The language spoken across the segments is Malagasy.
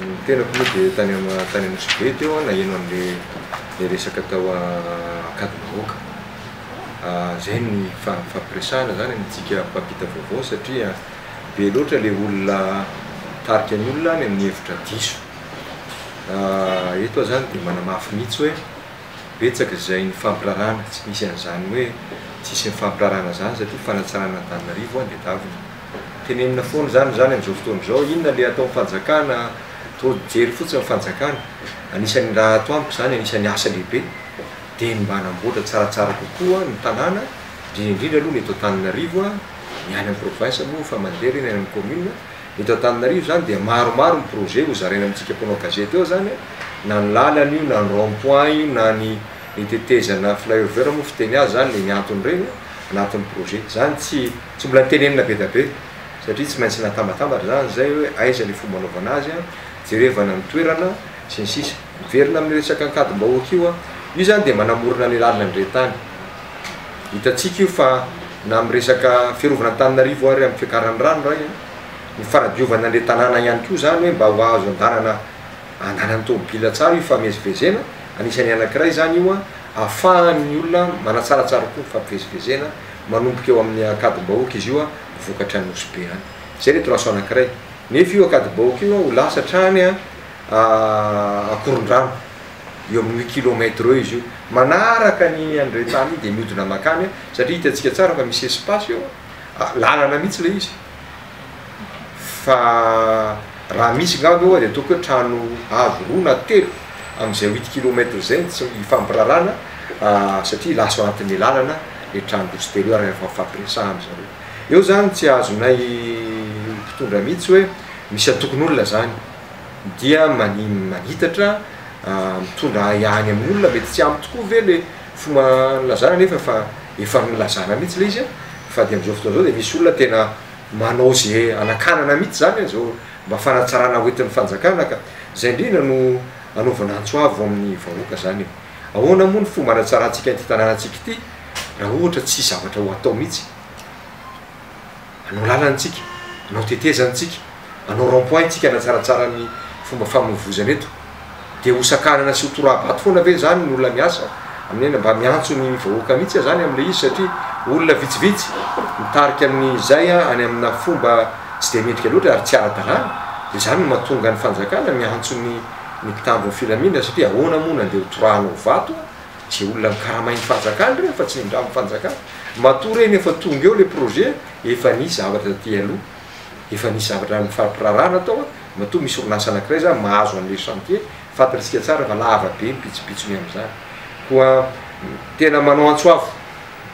Ny tenako moa dia tany Anosibe teo aho naheno an'ilay resaka tao Ankadimbahoaka. Izay no nifampiresahana izany amintsika mpampita vaovao satria be loatra ilay olona mitarika ny olona any amin'ny hevitra diso. Eto aho izany dia manamafy mihitsy hoe betsaka izay nifampiraharahana, tsy nisy an'izany hoe tsy nisy nifampiraharahana izany satria fanatsarana Antananarivo anie daviny. Tenenina foana izany izany amin'izao fotoana izao, inona ilay ataon'ny fanjakana, trop jery fotsiny ny fanjakana, anisan'ny raha ato amiko izany, anisan'ny asa lehibe dia ny mba hanamboatra tsaratsara kokoa ny tanàna, indrindra indrindra aloha ny eto Antananarivo, ny any amin'ny province moa efa mandeha ireny, any amin'ny commune, ny eto Antananarivo izany dia maromaro ny projet ho zaraina amintsika mpanao gazety eo izany, na ny lalana io, na ny rond point io, na ny ny tetezana flyover moa fiteny azy izany, ilay ny antony ireny anatin'ny projet, izany tsy. Tsy mbola tenenina be da be satria tsy maintsy natambatambatra zany zay hoe aiza le fomba anaovana azy a, jerevana ny toerana sy ny sisa. Miverina amin'ny resaka ankadim-bahoaka io a, io zany dia manamorona ny lalana indray tany. Hitantsika io fa na amin'ny resaka fiarovana Antananarivo ary amin'ny fiakaran'ny rano ray a, ny fanadiovana an'le tanàna ihany koa zany hoe mba ho azo andanana andanan'ny tômôbila tsara io fifamezivezena, anisan'ny anakiray zany io a, afahan'ny olona manatsaratsara koa ny fifamezivezena. manomboka eo amin'ny akadim-bahoaka izy io vokatra any Nosy Be any. Izay ny traceau anankiray. Nefa io akadim-bahoaka io ho lasa hatrany Ankorondrano. Eo amin'ny huit kilomètres eo izy io. Manaraka ny an'Iretany iny dia mihodina makany satria hitantsika tsara fa misy espace eo, lalana mihitsy ilay izy. fa raha misy nga aloha dia ataoko hoe trano avo roa na telo amin'izay huit kilomètre zay tsy hifampirarana satria lasa ao anatin'ny lalana le trano roa sy telo io ary efa nifampiresahana zareo eo zany tsy azonay mpitondra mihitsy hoe misy antokon'olona zany dia mani- manitatra mitondra ahiahiny amin'olona mety tsy ampy tokoa ve le Fomba nilazana anefa fa efa nilazana mihitsy ilay izy fa dia amin'izao fotoana izao dia misy olona tena manao izay hanakanana mihitsy izany izao mba fanatsarana hoentin'ny fanjakana ka izay indrindra no anaovana antso avo amin'ny vahoaka izany e! Ahoana moa ny fomba hanatsarantsika ity tanànantsika ity raha ohatra tsy hisy zavatra ho atao mihitsy? Anao lalana tsika, anao tetezana tsika, anao rond point tsika hanatsaratsara ny fomba famoivozana eto. Dia ho sakanana sy ho torabato foana ve izany ny olona miasa amin'ny aina mba miantso ny vahoaka mihitsy aza any amin'ilay izy satria olona vitsivitsy mitarika amin'izay any amina fomba tsy dia mendrika loatra ary tsy ara-dalàna? Dia izany no mahatonga ny fanjakana miantso ny ny mpitandro ny filamina satria ahoana moa na dia ho torahanao vato Tsy olona nikaramain'ny fanjakana ireny fa tsy nindramin'ny fanjakana. Matoa ireny efa tonga eo ilay projet, efa nisy zavatra taty aloha, efa nisy zavatra nifampirarahana tao an, matoa misy orinasa anankiray izany mahazo an'ilay chantier, fantantsika tsara fa lava be ny pitsopitsony amin'izany. Koa tena manao antso avo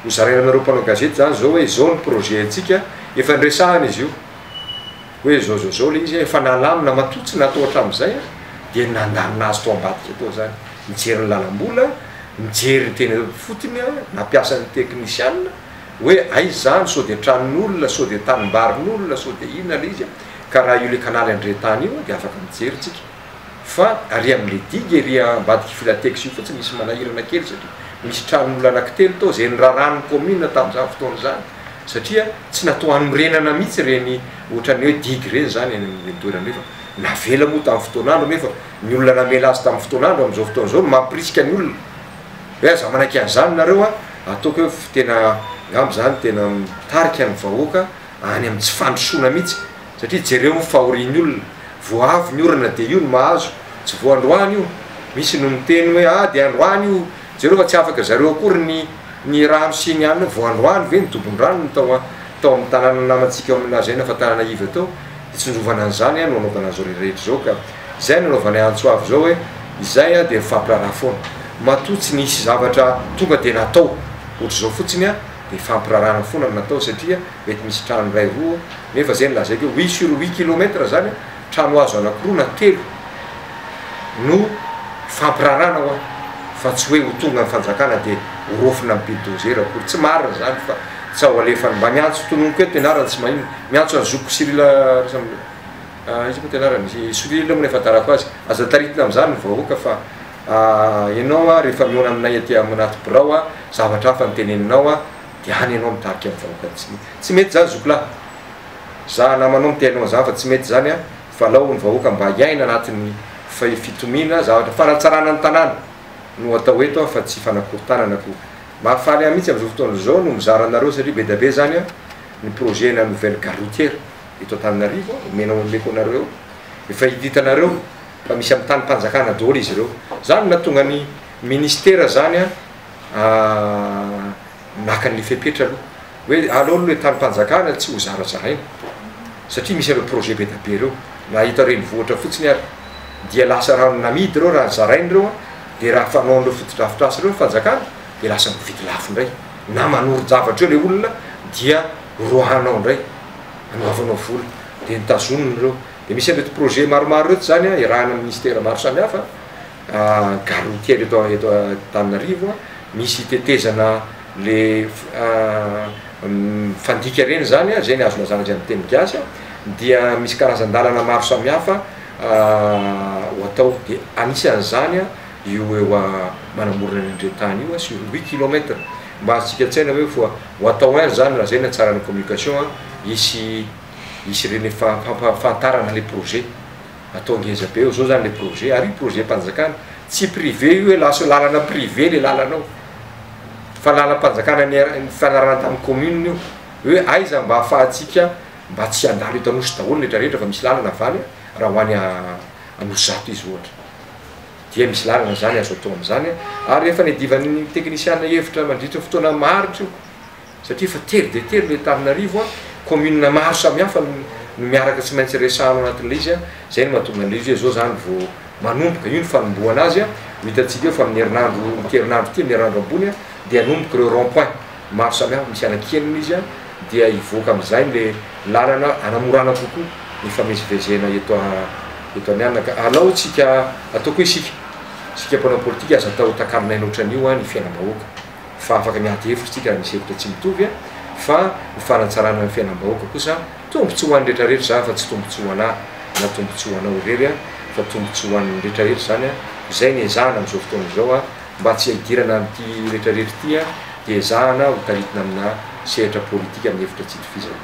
hozaraina aminareo mpanao gazety izany izao hoe izao ny projet antsika, efa niresahana izy io. Hoe zao zao zao le izy a, efa nalamina matoa tsy natao hatramizay a, dia nandalina azy tao ambadika tao zany, nijery ny lalambola, nijery ny teny fotony a, nampiasa ny teknisiana, hoe aiza zany, sao dia tranon'olona, sao dia tanimbarin'olona, sao dia inona le izy a, ka raha io le kanaly andrentany io dia afaka mijery tsika. fa ary amin'le digue ery ambadik'i Filatex io fotsiny misy manahirana kely satria misy tranon'olona anankitelo tao izay nirarahan'ny commune tamin'izany fotoana izany satria tsy natao hanorenana mihitsy ireny ohatran'ny hoe digue ireny izany eny amin'ireny toerana ireny fa navela moa tamin'ny fotoan'andro nefa ny olona namela azy tamin'ny fotoan'andro amin'izao fotoana izao no mampirisika ny olona hoe aza manaiky an'izany nareo a! ataoko hoe tena angamba izany tena mitarika ny vahoaka any amin'ny tsy fandrosoana mihitsy Satria jereo fahorian'ny olona, vao avy ny orana dia io no mahazo, tsy vao androany io, misy no miteny hoe ah dia androany io, jereo fa tsy afaka zareo akory ny ny rano sy ny anona, vao androany ve ny dobon-drano no tao tao amin'ny tanàna namantsika ao amin'ny lazaina fa tanàna iva tao, dia tsindrovana an'izany no anaovana an'izao rehetra izao ka izay no anaovanay antso avo izao hoe izay ah dia mifampiraharaha foana, matoa tsy nisy zavatra tonga dia natao, ohatr'izao fotsiny ah dia fampirarahana foana no natao satria. Mety misy trano iray roa nefa zay no lazaiko hoe huit sur huit kilomètre zany a, trano hazo anakiroa na telo no hifampiraharahana hoa fa tsy hoe ho tonga ny fanjakana dia ho rofina amin'ny bildozer akory. Tsy marina izany fa tsy ao alefany. Mba miantso tononiko eto ianareo tsy maninona, miantso an'i zokiko Cyril Rasamboninahitra, iza moa ity anarany, i Cyril moa no efa tarako azy, aza taritina amin'izany ny vahoaka fa ianao rehefa mihaona aminay aty anaty birao zavatra hafa no teneninao. Dia any ianao mitarika ny vahoaka tsy mety tsy mety zany zoky lahy za namanao miteny anao zany fa tsy mety zany an fa alao ny vahoaka mba hiaina anatiny fay fitomiana zavatra fanatsarana ny tanàna no atao eto an fa tsy fanakorontanana ko mahafaly ahy mitsy amizao fotoana zao no mizara anareo satria be da be zany an ny projet na nouvelle gare routière eto antananarivo an omenao omeko anareo eo efa hita hitanareo fa misy am tanim panjakana daholo izy ireo zany no nahatonga ny ministera zany an maka an'ilay fepetra aloha hoe aleo aloha ilay tanim-panjakana ilay tsy ho zarazaraina satria misy ireo projet be dia be ireo na eto renivohitra fotsiny ary dia lasa rano namidy ireo raha zaraina ireo an dia raha fanaon'ireo fotodrafitrasa ireo ny fanjakana dia lasa mividy lafo indray na manorin-javatra eo ilay olona dia roahanao indray hanaovanao vola dia ny tazonina ireo dia misy an'ireto projet maromaro ireto izany an iarahana amin'ny ministera maro samihafa Garony kely eto eto Antananarivo misy tetezana le mifandika ireny zany a, zay ny azo lazana zay amin'ny teny gasy a, dia misy karazan-dalana maro samihafa ho atao dia anisan'izany io eo manamorona ny andrin-tany io sur huit kilomètre, mba azontsika an-tsaina ve fa ho atao hain zany raha zay ny hatsaran'ny communication hisy hisy ireny fampahafantarana le projet. Atao ngeza be eo zao zany le projet, ary io projet mpanjakana, tsy privé io hoe lasa lalana privé le lalana io, fa lalam-panjakana nifanarahana tamin'ny commune io, hoe aiza mba afahantsika mba tsy handalo eto Anosy daholo ny rehetra rehetra fa misy lalana avaly raha ho any Anosizato izy ohatra, dia misy lalana zany azo atao amin'izany, ary efa niadivan'ny teknisiana hevitra mandritry ny fotoana maharitra io. satria efa tery dia tery ilay Tavinarivo a, commune maro samihafa no no miaraka tsy maintsy resahana ao anatin'ilay izy a, izay no mahatonga an'ilay izy hoe izao izany vao manomboka, io no fanombohana azy a, ho hitantsika eo fa amin'ny herinandro ity herinandro ity, amin'ny herinandro ambony a, dia hanomboka ireo rond point maro samihafa misy anankienina izy a, dia hivoaka amin'izay ilay lalana hanamorana kokoa ny hifamezivezena eto eto Amihanaka, alao tsika ataoko hoe isika isika mpanao politika aza atao takalon'aina ohatran'io a ny fiainam-bahoaka. fa afaka miady hevitra isika raha misy hevitra tsy mitovy fa ho fanatsarana ny fiainam-bahoaka kosa tombotsoa ho an'ny rehetra rehetra izany fa tsy tombotsoa ho anah na tombotsoa ho anao irery an fa tombotsoa ho an'ny rehetra rehetra izany an izay ny ezahana amin'izao fotoana izao an mba tsy hidirana amin'ity rehetra rehetra ity an dia ezahana ho taritina amina sehatra politika amin'ny hevitra tsy itovizana.